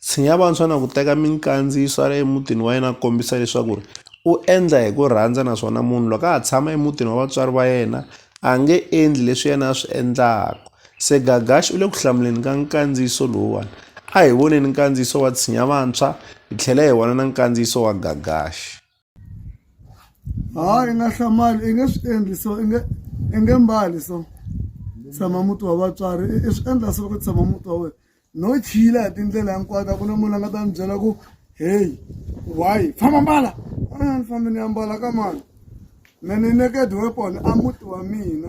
Tshinya vantshwa na ku teka minkandziyiso a ri emutini wa yena a kombisa leswaku ri u endla hi ku rhandza naswona munhu loko a ha tshama emutini wa vatswari va yena a nge endli leswi yena a swi endlaka se Gagax u le ku hlamuleni ka nkandziyiso lowuwani a hi voneni nkandziyiso wa tshinya vantshwa hi tlhela hi vona na nkandziyiso wa Gagax. hayi i nga hlamali i nge swi endli so i nge i nge mbali so tshama muti wa vatswari i swi endla so ku tshama muti wa wena no chila hi tindlela hinkwato a ku na munhu a nga ta ni byela ku heyi why famba mbala a ni fambi ni ya mbala ka mani me ni naked weapon a muti wa mina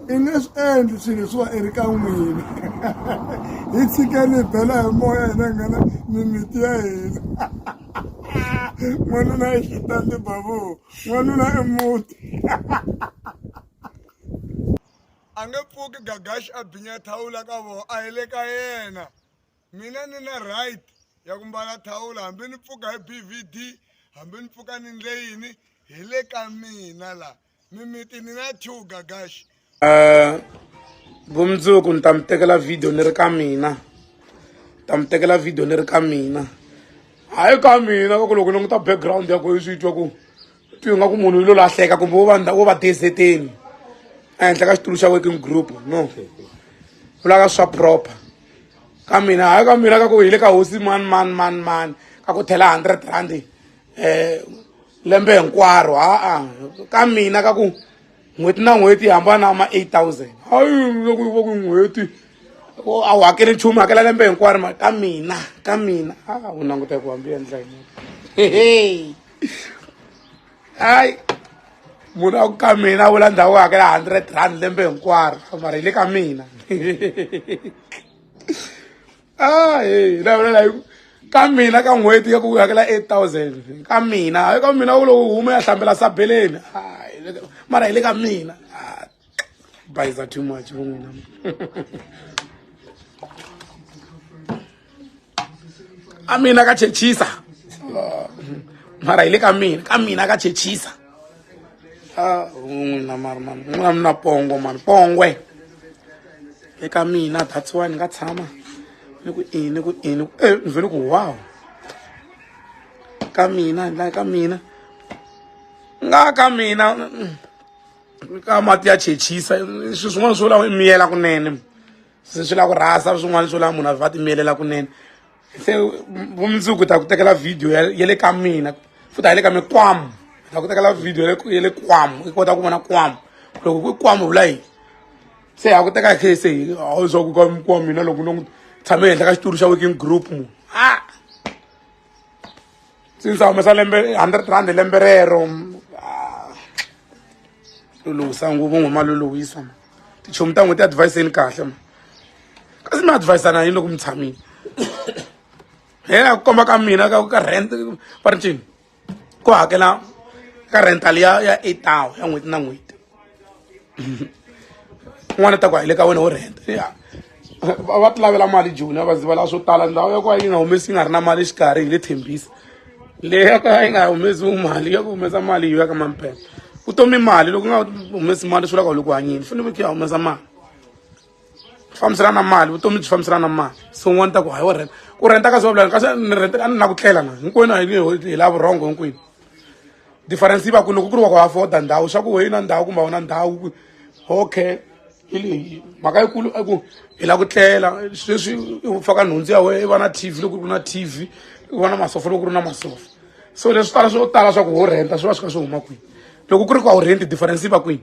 i nge swi endli swilo leswiwa i ri ka n'wina hi tshikeni hi bela hi moya hina hi nghena mimiti ya hina n'wanuna i xitandi babu n'wanuna i muti a nge pfuki gagaxi a binya thawula ka vona a hi le ka yena mina ni na right ya ku mbala thawula hambi ni pfuka hi bvd hambi ni pfuka ni ndle yini hi le ka mina laha mimiti ni na two gagaxi um vumundzuku ni ta mi tekela video ni ri ka mina ta mi tekela video ni ri ka mina hayi ka mina ka ku loko languta background ya ku yi swi twa ku twi nga ku munhu yi lo lahleka kumbe wo va wo va deseteni ehenhla ka xitulu xa working group no vulaka swa proper ka mina hayi ka mina ka ku hi le ka hosi mani mani mani mani ka ku thela hundred rand eh lembe hinkwaro ha-a ka mina ka ku n'hweti na n'hweti hambana ma 8000 hayi loko va ku n'hweti a wu hakeli nchumu hakela lembe hinkwaro ma ka mina ka mina a wu languta ku hambi endla yini hehe hayi munhu a ku ka mina a vula ndhawu hakela hundred rand lembe hinkwaro mara hi le ka mina a he na vona like ka mina ka n'hweti ya ku hakela eight thousand ka mina hayi ka mina u lo huma ya hlambela sabeleni mara hi le ka mina bayiza too much vo n'wina a mina ka chechisa mara hi le ka mina ka mina ka chechisa ah n'wina mari mani n'wina mi na pongo mani pongwe eka mina that's why ni nga tshama ni ku ini ni ku ini e eh, ni vhele ku wow ka mina la ka mina nga ka mina mm, ka mati ya chechisa swi swin'wana swo lava miyela kunene se swi lava ku rhasa swin'wana swo lava munhu a va timiyelela kunene se vumundzuku ta ku tekela video ya le ka mina futhi a yi le ka mi kwamu ta ku tekela video ya le kwamu i kota ku vona kwamu loko ku kwamu vula yini se ha ku teka khe se a wu zwa ku ka mi kwamu mina loko no tshame ehenhla ka xitori xa working group munhu since a humesa lembe hundred rand lembe rero ah, luluhisa nguvu n'we ma luluhisa ma tichomi ta n'we ti adviseni kahle ma kasi mi advisana yini loko mi tshamile he a ku komba ka mina ka ka rent va ri ncini ku hakela ka rental ya ya eight hour ya n'hweti na n'hweti n'wana ta ku a hi le ka wena wo rhenta ya va ti lavela mali joni va ziva la swo tala ndhawu ya ku va yi nga humesi yi nga ri na mali xikarhi hi le thembisa leyi ya ku va yi nga humesi mali ya ku humesa mali yi ya ka mamphepha vutomi mali loko u nga humesi mali swi vula ku loko hanyini fanele ku ya humesa mali fambiselana na mali vutomi byi fambiselana na mali so n'wana ta ku hayi wo rhenta ku rhenta ka swavulani kasi ni rhenta a ni na ku tlela na hinkwenu a hi la vurhongo hinkwenu difference yi va ku loko ku ri wa ku afforda ndhawu swa ku weyi na ndhawu kumbe wona ndhawu okay hi leyi mhaka yikulu i ku hi la ku tlela sweswi u faka nhundzu ya wena i va na t v loko ku ri na t v i va na masofa loko ku ri na masofa so leswi tala swo tala swa ku wo rhenta swi va swi kha swi huma kwini loko ku ri ku a wu rhenti difference yi va kwini